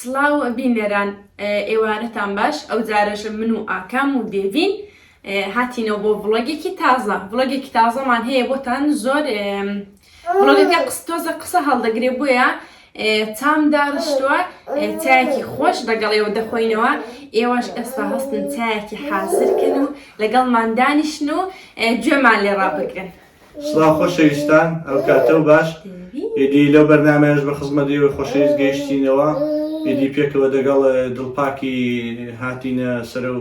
سڵاو بینەران ئێوارەتان باش ئەوجارەش من و ئاکام و دێڤین هاتینەوە بۆ ڤڵۆگێکی تازە ڤڵۆگێکی تازەمان هەیە بۆتان زۆر ڤڵۆگەکە قس تۆزە قسە هەڵدەگرێ بۆیە تام داڕشتووە چایەکی خۆش لەگەڵ ئێوە دەخۆینەوە ئێوەش ئێستا هەستن چایەکی حازرکن و لەگەڵمان دانیشن و گوێمان لێ ڕابگرن سڵاو خۆشەویستان ئەو کاتە و باش ئیدی لەو بەرنمەش بە خزمەت ئێوە خۆشەویست گەیشتینەوە ئیدی پێکەوە دەگەڵ دڵپاکی هاتینە سەر و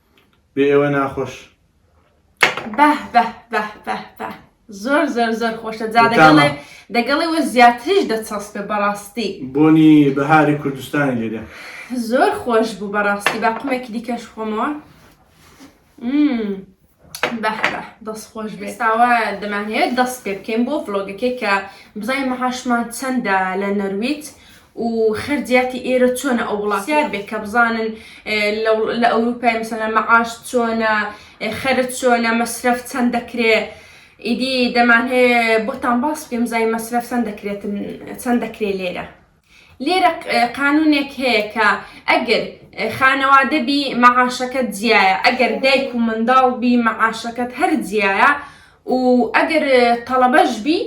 بێ ئێوە ناخۆش. بەه بەه بەه بەه بەه زۆر زۆر زۆر خۆشە جا دەگەڵێ بەتامە. دەگەڵێوە زیاتریش دەچەسپێ بەڕاستی بۆنی بەهاری کوردستانی لێ دێ. زۆر خۆش بوو بەڕاستی با قومێکی دیکەش خۆمەوە مم. بەه بەه دەست خۆش بێ ئێستاوە دەمانەوێت دەست پێ بکەین بۆ ڤڵۆگەکەی کە بزانین مەحاشمان چەندە لە نەرویج و خەرجیاتی ئێرە چۆنە ئەو وڵات پرسیار بێت کە بزانن لە ئەوروپای مثلا مەعاش چۆنە خەرج چۆنە مەسرەف چەند دەکرێ ئیدی دەمان هەیە بۆتان باس بکەم زای مەسرەف چەند دەکرێتن چەند دەکرێ لێرە لێرە قانونێک هەیە کە ئەگەر خانەوادە بی مەعاشەکەت جیایە ئەگەر دایک و منداڵ بی مەعاشەکەت هەر جیایە و ئەگەر تەڵەبەش بی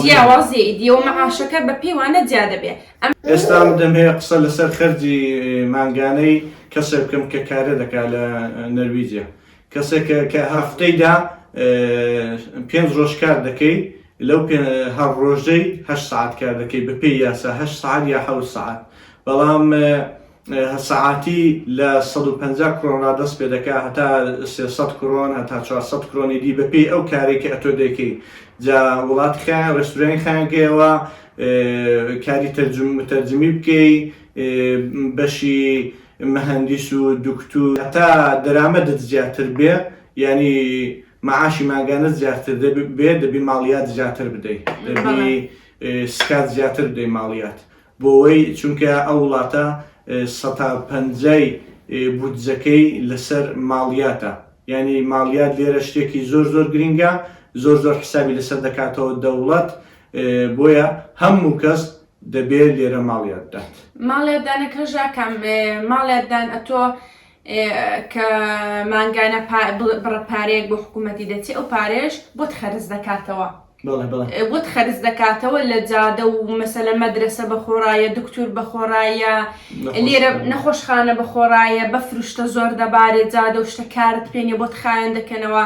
جیاوازی ئیدیەوە مەعاشەکە بە پێوانە جیا دەبێت ئێستا دەم هەیە قسە لەسەر خەرجی مانگانەی کەسێک بکەم کە کارە دەکات لە نەرویجە کەسێک کە هەفتەیدا پێنج ڕۆژ کار دەکەیت لەو هەر ڕۆژەی هە سعات کار دەکەیت بە پێی یاسا هە سعات یا حە سعات بەڵام هە سەعاتی لە سەد و پەنجا کرۆن ڕا دەست پێ دەکا هەتا سێ سەد کرۆن هەتا چوار سەد کرۆنی دی بە پێی ئەو کارەی کە ئەتۆ دەیکەی جا وڵات خە ڕێستورانی خانگەیەوە کاری تەرجم تەرجمی بکەی بەشی مهندس و دکتور هەتا دەرامەدت زیاتر بێ یعنی معاشی مانگانە زیاتر دەبێ بێ دەبی ماڵیات زیاتر بدەی دەبی بەڵێ. اه، سکات زیاتر بدەی ماڵیات بۆوەی چونکە ئەو وڵاتە سەتا پەنجای بودجەکەی لەسەر ماڵیاتە یانی ماڵیات لێرە شتێکی زۆر زۆر گرینگە زۆر زۆر حسابی لەسەر دەکاتەوە دەوڵەت بۆیە هەموو کەس دەبێ لێرە ماڵیات بدات. ماڵیات دانەکەشدا کام ماڵیات دان ئەتۆ کە مانگانە بڕە پارەیەک بۆ حکوومەتی دەچێ ئەو پارەیەش بۆت خەرج دەکاتەوە بۆت خەرج دەکاتەوە لە جادە و مەسەلە مەدرسە بە خۆڕایە دکتور بە خۆڕایە لێرە نەخۆشخانە بە خۆڕایە بە فروشتە زۆر دەبارێت جادە و شتە کارت پێێ بۆت خایەن دەکەنەوە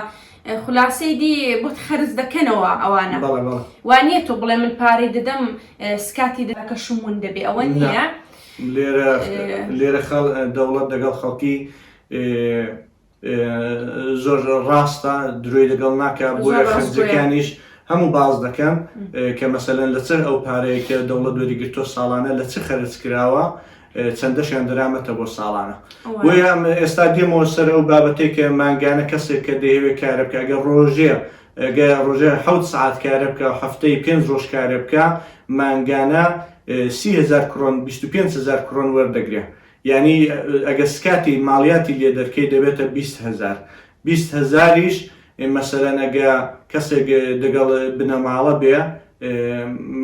خلاصەی دی بۆت خەرز دەکەنەوە ئەوانە وانە تۆ بڵێ من پارەی دەدەم سکاتی دەکە شمون دەبێ ئەوە نییە لێرە لێرە خەڵ دەوڵەت دەگەڵ خەڵکی زۆر ڕاستە درۆی لەگەڵ ناکە بۆیە خەرجەکانیش هەموو باز دەکەم کە مەسەلەن لە چەند ئەو پارەیە کە دەوڵەت وەریگرتۆ ساڵانە لە چ خەرج کراوە چەندەشیان درامەتە بۆ ساڵانە بۆیە ئێستا دێمەوە سەر ئەو بابەتێک کە مانگانە کەسێک کە دەیەوێت کارە بکە گە ڕۆژێ گەر ڕۆژێ حەوت سەعات کارە بکا و هەفتەی پێنج ڕۆژ کارە بکا مانگانە سی هەزار کرۆن بیست و پێنج هەزار کرۆن وەردەگرێ یانی ئەگەر سکاتی ماڵیاتی لێ دەرکەی دەبێتە بیست هەزار بیست هەزاریش مەسەلەن ئەگە کەسێک دەگەڵ بنەماڵە بێ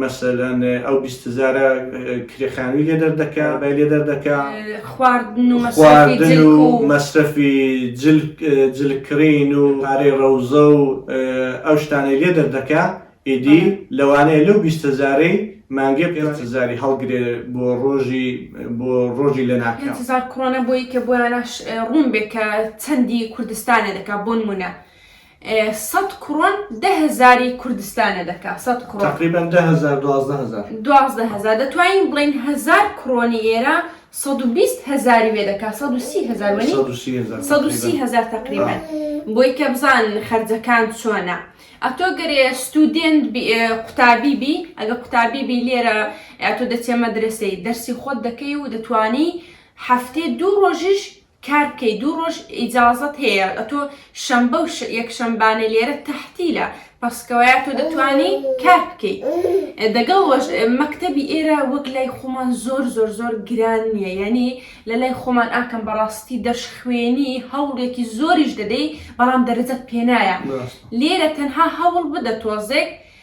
مەسەلەن ئەو بیست هەزارە کرێ خانووی لێ دەردەکا بای لێ دەردەکا خواردن و خواردن و مەسرەفی جلکڕین و پارەی ڕەوزە و ئەو شتانەی لێ دەردەکا ئیدی لەوانەیە لەو بیست هەزارەی مانگێ پێ هەزاری هەڵگرێ بۆ ڕۆژی بۆ ڕۆژی لە ناکە هزار کڕۆنە بۆی کە بۆیانە ڕوون بێ کە چەندی کوردستانە دەکا بۆ نمونە سەد کڕۆن دە هەزاری کوردستانە دەکا سەد کڕۆن. تەقریبەن دە هەزار دوازدە هەزار. دوازدە هەزار دەتوانین بڵێین هەزار کڕۆنی ئێرە سەد و بیست هەزاری وێ دەکا سەد و سی هەزار وەنی؟ سەد و سی هەزار سەد و سی هەزار تەقریبەن. بۆی کە بزان خەرجەکان چۆنە. ئەتۆ گەرێ ستودێنت قوتابی بی ئەگە قوتابی بی لێرە ئەتۆ دەچێ مەدرسەی دەرسی خۆت دەکەی و دەتوانی هەفتەی دوو ڕۆژیش کار بکەی دوو ڕۆژ ئیجازەت هەیە ئەتۆ شەمبە و یەکشەمبانە لێرە تەحتیلە پەسکەوەیە تۆ دەتوانی کار بکەی دەگەڵ وەش مەکتەبی ئێرە وەک لای خۆمان زۆر زۆر زۆر گران نییە یعنی لە لای خۆمان ئاکەم بەڕاستی دەشخوێنی هەوڵێکی زۆریش دەدەی بەڵام دەرەجەت پێنایە لێرە تەنها هەوڵ بدە تۆزێک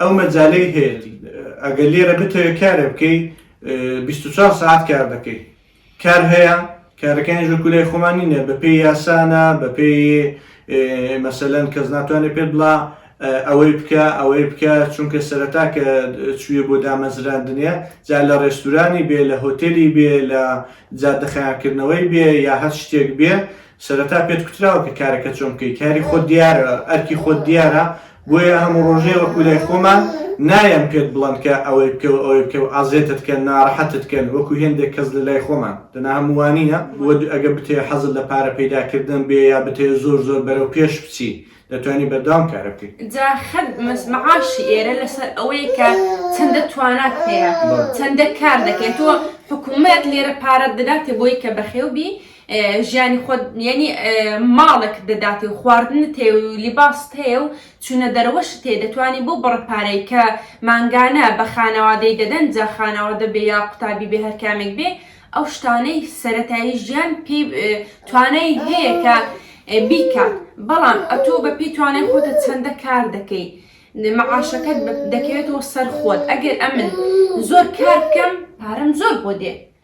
ئەو مەجالەی هەیە ئەگەر لێرە بتەوێت کارێ بکەی 24 ساعت کار دەکەی کار هەیە کارەکانی ژە کولای خۆمانی نیە بەپی یاسانە بەپی مەسەلەن کەس ناتوانێت پێت بڵا ئەوەی بکە ئەوەی بکە چونکە سەرەتا کە چویە بۆ دامەزراندنە جا لە ڕێستورانی بێ لە هۆتێلی بێ لە جادەخیانکردنەوەی بێ یا هەر شتێک بێ سەرەتا پێت کوتراوە کە کارەکە چۆن بکەی کاری خۆت دیارە ئەرکی خۆت دیارە بۆیە هەموو ڕۆژێ وەکو لای خۆمان نایەن پێت بڵند کە ئەوەی بکە و ئەوەی بکە و ئازێتت کە ناڕەحەتت کەن وەکو هێندێک کەس لە لای خۆمان دەنا هەمووانینە وە ئەگە بتێ حەزت لە پارە پەیداکردن بێ یا بتێ زۆر زۆر بەرەو پێش بچی دەتوانی بەردەوام کارە بکەی جا خەت مەعاشی ئێرە لەسەر ئەوەیە کە چەندە توانات هەیە چەندە کار دەکەێت تۆ حکوومەت لێرە پارەت دەداتێ بۆی کە بەخێو بی ژیانی خۆت یەنی ماڵێکت دەداتێ و خواردنت هەیە و لیباست هەیە و چوونە دەرەوەشت هەیە دەتوانی بەو بڕە پارەی کە مانگانە بە خانەوادەی دەدەن جا خانەوادە بێ یا قوتابی بێ هەرکامێک بێ ئەو شتانەی سەرەتایی ژیان پێی توانای هەیە کە بیکات بەڵام ئەتۆ بە پێی توانای خۆتە چەندە کار دەکەی معاشەکەت دەکەوێتەوە سەر خۆت ئەگەر ئەمن زۆر کار بکەم پارەم زۆر بۆ دێ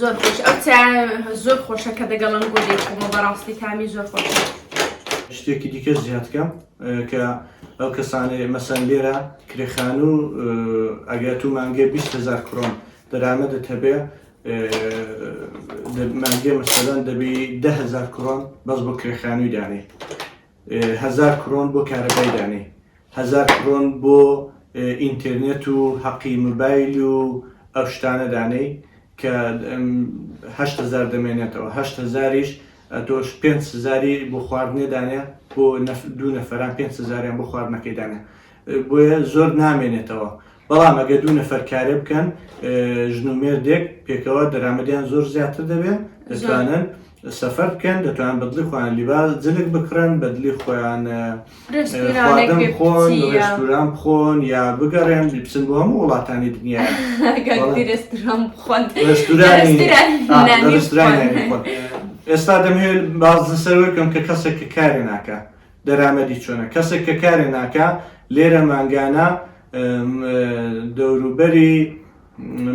زۆر خۆش ئەو زۆر خۆشە کە دەگەڵم بۆ دەیخۆمە بەڕاستی تامی زۆر خۆش شتێکی دیکە زیادکەم کە ئەو کەسانێ مەسەن لێرە کرێخان و ئەگەر تو مانگێ 20 هزار کرۆن دەرامەدە هەبێ مانگێ مەسەدان دەبی ده هزار کرۆن بەس بۆ کرێخانوی دانێ هەزار کرۆن بۆ کارەبای دانێ هەزار کرۆن بۆ ئینتێرنێت و هەقی مبایل و ئەو شتانە دانێی کە هەشت هەزار دەمێنێتەوە هەشت هەزاریش تۆش پێنج هەزاری بۆ خواردنێ دانێ بۆ دوو نەفەران پێنج هەزاریان بۆ خواردنەکەی دانێ بۆیە زۆر نامێنێتەوە بەڵام ئەگەر دوو نەفەر کارێ بکەن ژن و مێردێک پێکەوە دەرامەدیان زۆر زیاتر دەبێن دەتوانن سەفەر بکەن دەتوان بەدلی خۆیان لیباز جلک بکڕن بەدلی خۆیان خۆن ڕێستوران بخۆن یا بگەڕێن بچن بۆ هەموو وڵاتانی دنیا ئێستا دەمهێت باز سەرەکەم کە کەسێک کە کارێ ناکە دەرامەدی چۆنە کەسێک کە کارێ ناکە لێرە مانگانە دەوروبەری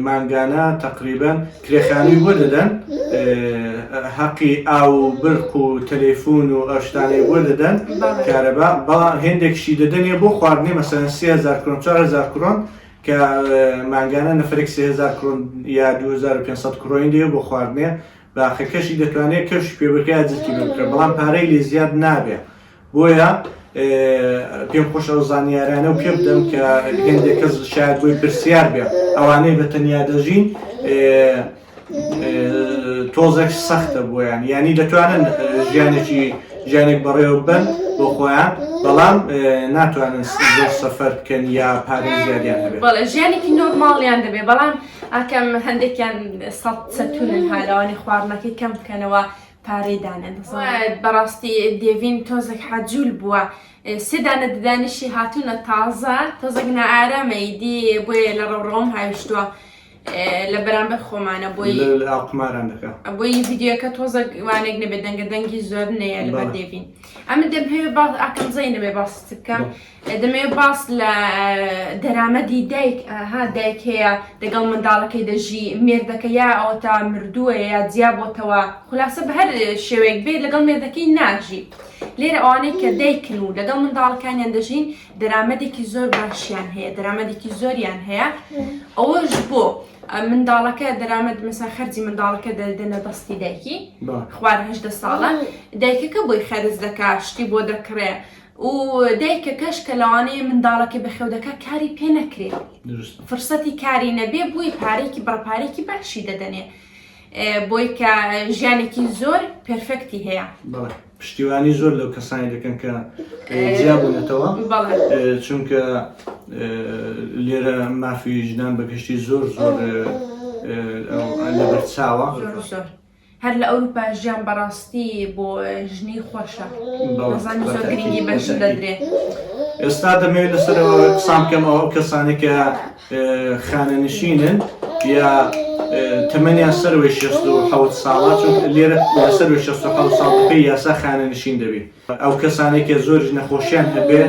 مانگانە تەقریبەن کرێخانی بۆ دەدەن هەقی ئاو و برق و تەلەفون و ئەشتانەی بۆ دەدەن کارەبا بەڵام هێندێکشی دەدەنێ بۆ خواردنی مەسەن 3000 کرۆن 4000 کرۆن کە مانگانە نەفرێک 3000 کرۆن یا 2500 کرۆین دێ بۆ خواردنێ باخە کەشی دەتوانێت کەشی پێ بکە جرکی پێ بکە بەڵام پارەی لێ زیاد نابێ بۆیە پێم خۆش ئەو زانیارانە و پێ بدەم کە هێندێک کەس شاید بۆی پرسیار بێ ئەوانەی بە تەنیا دەژین تۆزێک سەختە بۆیان ینی دەتوانن ژیانێکی ژیانێک بەڕێوە بن بۆ خۆیان بەڵام ناتوانن زۆر سەفەر بکەن یا پارێزیاریان هەبێت بەڵێ ژیانێکی نۆرماڵیان دەبێ بەڵام ئاکام هەندێکیان سەد سەتونن ها لەوانی خواردنەکەی کەم بکەنەوە پارەی دانێن بەڕاستی دێڤین تۆزێک حەجول بووە سێدانە ددانیشی هاتوونە تازە تۆزێک نائارامەی دی بۆیە لە ڕەوڕەوم هاویشتووە لە بەرامبەر خۆمانە بۆی قماران دەکە بۆی یددیوەکە تۆزە وانێک نەبێت دەنگە دەنگی زۆر نەیە لە دێبین ئەمە دەبێ باز ئاکەم زەی نەبێ باست بکەم دەمەوێت باس لە دەرامەدی دایک ها دایک هەیە دەگەڵ منداڵەکەی دەژی مێردەکە یا ئەوەتا مردووە یا جیابۆتەوە خولاسە بەهەر شێوەیەک بێت لەگەڵ مێردەکەی ناژی لێرە ئەوانەی کە دایکن و لەگەڵ منداڵەکانیان دەژین دەرامەدێکی زۆر باشیان هەیە دەرامەدێکی زۆریان هەیە ئەوەش بۆ منداڵەکە دەرامەت مەسا خەرجی منداڵەکە دەدەنە دەستی دایکی خوارهدە ساڵە دایکەکە بۆی خەرز دەکا شتی بۆ دەکڕێ و دایکەکەش کە لەوانەیە منداڵەکەی بەخێودەکە کاری پێ نەکرێ فرسەتی کاری نەبێ بووی پارێکی بڕپارێکی باشی دەدەنێ بۆی کە ژیانێکی زۆر پرفکتی هەیە پشتیوانی زۆر لەو کەسانی دەکەن کە جیابوونەتەوە چونکە لێرە مافی ژنان بەگشتی زۆر زۆر لەبەرچاوە هەر لە ئەوروپا ژیان بەڕاستی بۆ ژنی خۆشە دەزانی زۆر گرنگی بە ژن دەدرێ. ئێستا دەمەوێت لەسەرەوە قسان بکەم ئەو کەسانی کە خانەنشینن یا تەمەنیان سەروی 16 ساڵا چون لێرە لەسەر 16 ساڵ بکە یاسا خانەنشین دەبێت ئەو کەسانی کە زۆر نەخۆشیان هەبێ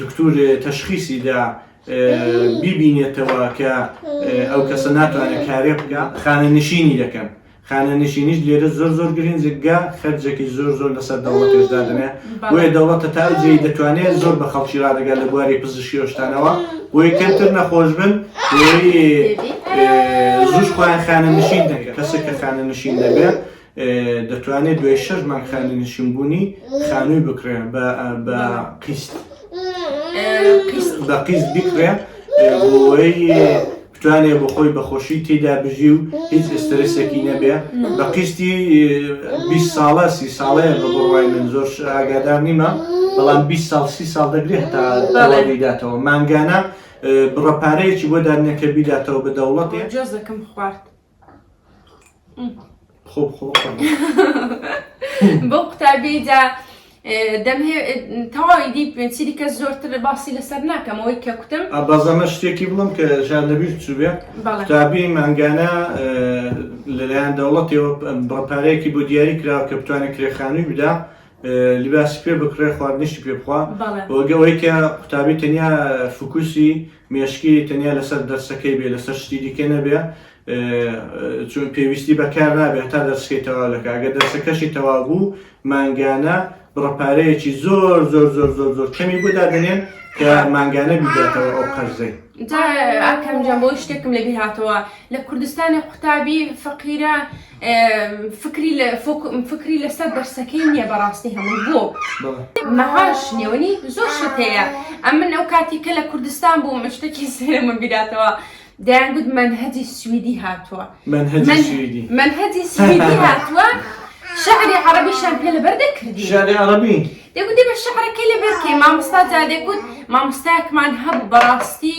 دکتور تەشخیسی دا بیبینێتەوە کە ئەو کەسە ناتوانێت کارێ بکە خانەنشینی دەکەن خانەنشینیش لێرە زۆر زۆر گرنجگە خەرجێکی زۆر زۆر لەسەر دەوڵەتێشدا دەنێ بۆیە دەوڵەتە تا جێ دەتوانێت زۆر بە خەڵکی ڕادگە لە بواری پزیشیۆشتانەوە بۆی کەمتر نەخۆش بن زوش خۆیان خانەنشین دەکە کەسێک کە خانەنشین دەبێت دەتوانێت دوای شەش مانگ خانەنشینبوونی خانووی بکڕێ بە قیست بە قیست بکڕێ بتوانێ بۆ خۆی بەخۆشی تێدا بژی و هیچ ئسترسێکی نەبێ بە قیستی 20 ساڵە سی ساڵەیە بە بڕوای من زۆر ئاگادار نیمە بەڵام 20 ساڵ سی ساڵ دەگرێت هەتا دەڵێداتەوە مانگانە بڕەپارەیەکی بۆ دادنەکە بیداتەوە بە دەوڵەت جۆزەکەم خوارد. خۆ بخۆ بۆ قوتابیدا دەم تەواوی دی پێچری کە زۆرتر باسی لەسەر ناکەمەوەی کە کوتم بازەمە شتێکی بڵم کە ژان دەبیش چوبێ قوتابی مانگانە لەلایەن دەوڵەتەوە بڕپارەیەکی بۆ دیاری کراوە کە بتوانێت کرێخانووی بدا لیباسی پێ بکڕێ خواردنیشتی پێ بخوا وەگەوەی کە قوتابی تەنیا فکوسی مێشکی تەنیا لەسەر دەرسەکەی بێ لەسەر شتی دیکە نەبێ چون پێویستی بەکار نابێ هەتا دەرسکەی تەواو دەکا گە دەرسەکەشی تەواو بوو مانگانە بڕەپارەیەکی زۆر زۆر زۆر زۆر زۆر کەمی بۆ دادنێن کە مانگانە بیداتەوە ئەو قەرزەی ئاکەم جەم بۆ شتێکم لە بیرهاتەوە لە کوردستانی قوتابی فەقیرە فکری لە فکری لەسەر دەرسەکەی نییە بەڕاستی هەموو بۆ مەهاش نێوەنی زۆر شت هەیە ئەم من ئەو کاتی کە لە کوردستان بوو مشتێکی سێرەمە بیراتەوە دەیانگوت منهجی سویدی هاتووە منهجی سویدی هاتووە شعری عربیشان پێ لەبەر دەکردی شعری عربی دەگوت دێ بە شعرەکەی لەبەر کەی مامۆستا جا دەگوت مامۆستایەکمان هەبوو بەڕاستی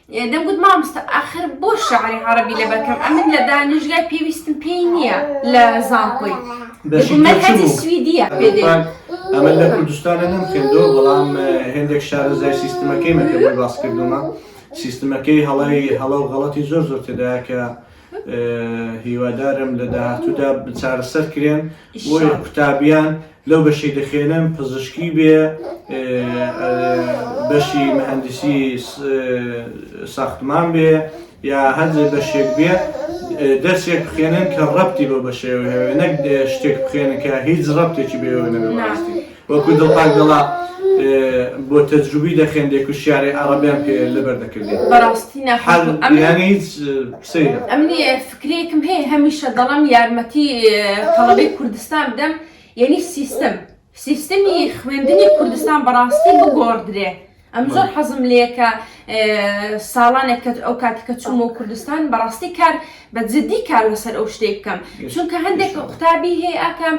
دەمگوت مامۆستا ئاخر بۆ شعری عەڕەبی لەبەر کەم ئەمن لە دانشگای پێویستم پێی نییە لە زانکۆی مەنهەجی سویدیە پێ دێ ئەمە لە کوردستانە نەم خوێندەوە بەڵام هێندێک شارەزای سیستمەکەی مەکە بۆی باس کردومە سیستمەکەی هەڵی هەڵە و غەڵەتی زۆر زۆر تێدایە کە هیوادارم لە داهاتوودا چارەسەر کرێن بۆیە قوتابیان لەو بەشی دەخێنن پزیشکی بێ بەشی مهندسی ساختمان بێ یا هەندێک بەشێک بێ دەرسێک بخێنن کە ڕەتی بۆ بەشێوە هەوێ نەک شتێک بخێنن کە هیچ ڕەتێکی بێوە نەبێ بەڕاستی وەکو دڵپاک دەڵا بۆ تەجروبی دەخێندێ کو شیعرێ عەڕەبیان پێ لەبەر دەکردێ. بەڕاستی ناخۆش بوو ئەمن. یانی هیچ قسەیە. ئەمنی فکرەیەکم هەیە هەمیشە دەڵەم یارمەتی تەڵەبەی کوردستان بدەم یەنی سیستم سیستمی خوێندنی کوردستان بەڕاستی بگۆڕدرێ. ئەم زۆر حەزم لێ کە ساڵانێک کە ئەو کاتە کە چوومە و کوردستان بەڕاستی کار بە جددی کار لەسەر ئەو شتێک بکەم چونکە هەندێک قوتابی هەیە ئاکام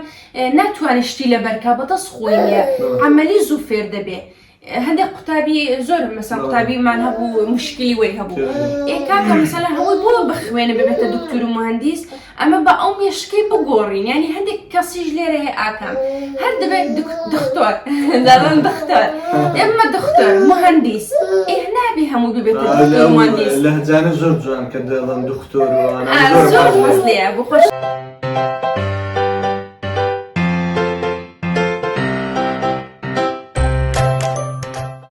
ناتوانێت شتی لە بەرکە بەدەست خۆی ئەمەلی زوو فێر دەبێ. هەندێک قوتابی زۆر مەسا قوتابیمان هەبوو مشکلی وەی هەبوو ئێکاکە مەسەلا هەمووی بۆ بخوێنە ببێتە دکتور و مهندیس ئەمە بە ئەو مێشکی بگۆڕین ینی هەندێک کەسیش لێرە هەیە ئاکام هەر دەبێت دختۆر دەڵم دختۆر ئێمە دختۆر مهندیس ئێه نابێ هەموو ببێت مهندیس لە هەجانە زۆر جوان کە دەڵم دختۆر زۆر بەس لێ بخۆش